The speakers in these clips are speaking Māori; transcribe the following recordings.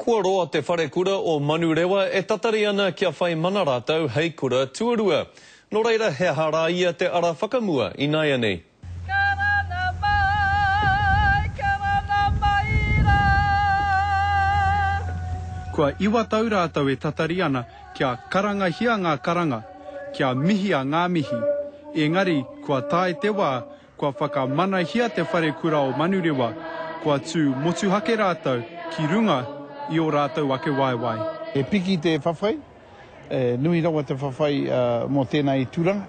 Kua roa te wharekura o Manurewa e tatari ana kia whai mana rātou hei kura tuarua. Nō reira he aha rā ia te ara whakamua ināianei? Karanga mai, karanga mai rā. Kua iwa tau rātou e tatari ana kia karangahia ngā karanga, kia mihia ngā mihi, engari kua tae te wā Kua whakamanahia te wharekura o Manurewa, kua tū motuhake rātou ki runga i ō rātou ake waewae. He piki te whawhai, he nui rawa te whawhai mō tēnā i turanga.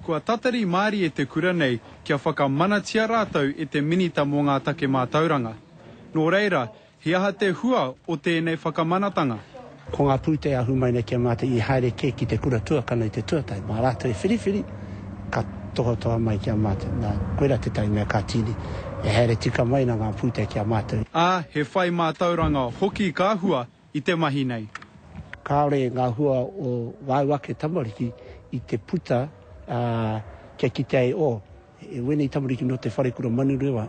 Kua tatari mārie te kura nei kia whakamanatia rātou e te Minita mō ngā Take Mātauranga. Nō reira, He aha te hua o tēnei whakamanatanga? Ko ngā pūtea ahu mai nei kia mate i haere kē ki te kura tuakana i te tuatae. Mā rātou e whiriwhiri, ka tohatoha mai kia mate. Nā, koirā tētahi mea ka tīni e haere tika mai ana ngā pūtea ki a mātou. Ā, he whai mātauranga hoki ka hua i te mahi nei. Kāore ngā hua o wāu ake tamariki i te puta, ā, kia kitea e ō, E wēnei tamariki nō te Wharekura Manurewa.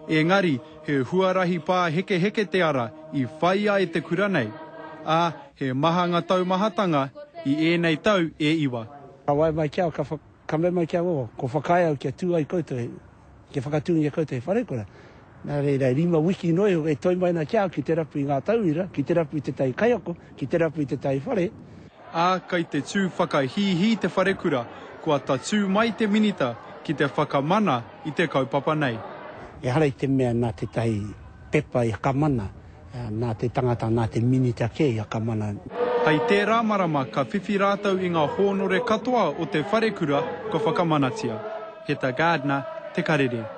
Engari, he huarahi pāhekeheke te ara i whaia e te kura nei, ā, he maha nga taumahatanga i ēnei tau e iwa. Ka wae mai ki au, ka mea mai ki au, oh, ko Whakaae au kia tū ai koutou, kia whakatūngia koutou he wharekura, Nā reira, e rima wiki noa iho e toe mai ana ki a au ki te rapu i ngā tauira, ki te rapu i tētahi kaiako, ki te rapu i tētahi whare, ā, kei te tū whakahīhī te wharekura, kua tatū mai te Minita ki te whakamana i te kaupapa nei. Ehara i te mea nā tētahi pepa i whakamana, nā te tangata, nā te Minita kē i whakamana. Hei tērā marama ka whiwhi rātou i ngā hōnore katoa o te wharekura kua whakamanatia. Heta Gardner, Te Karere.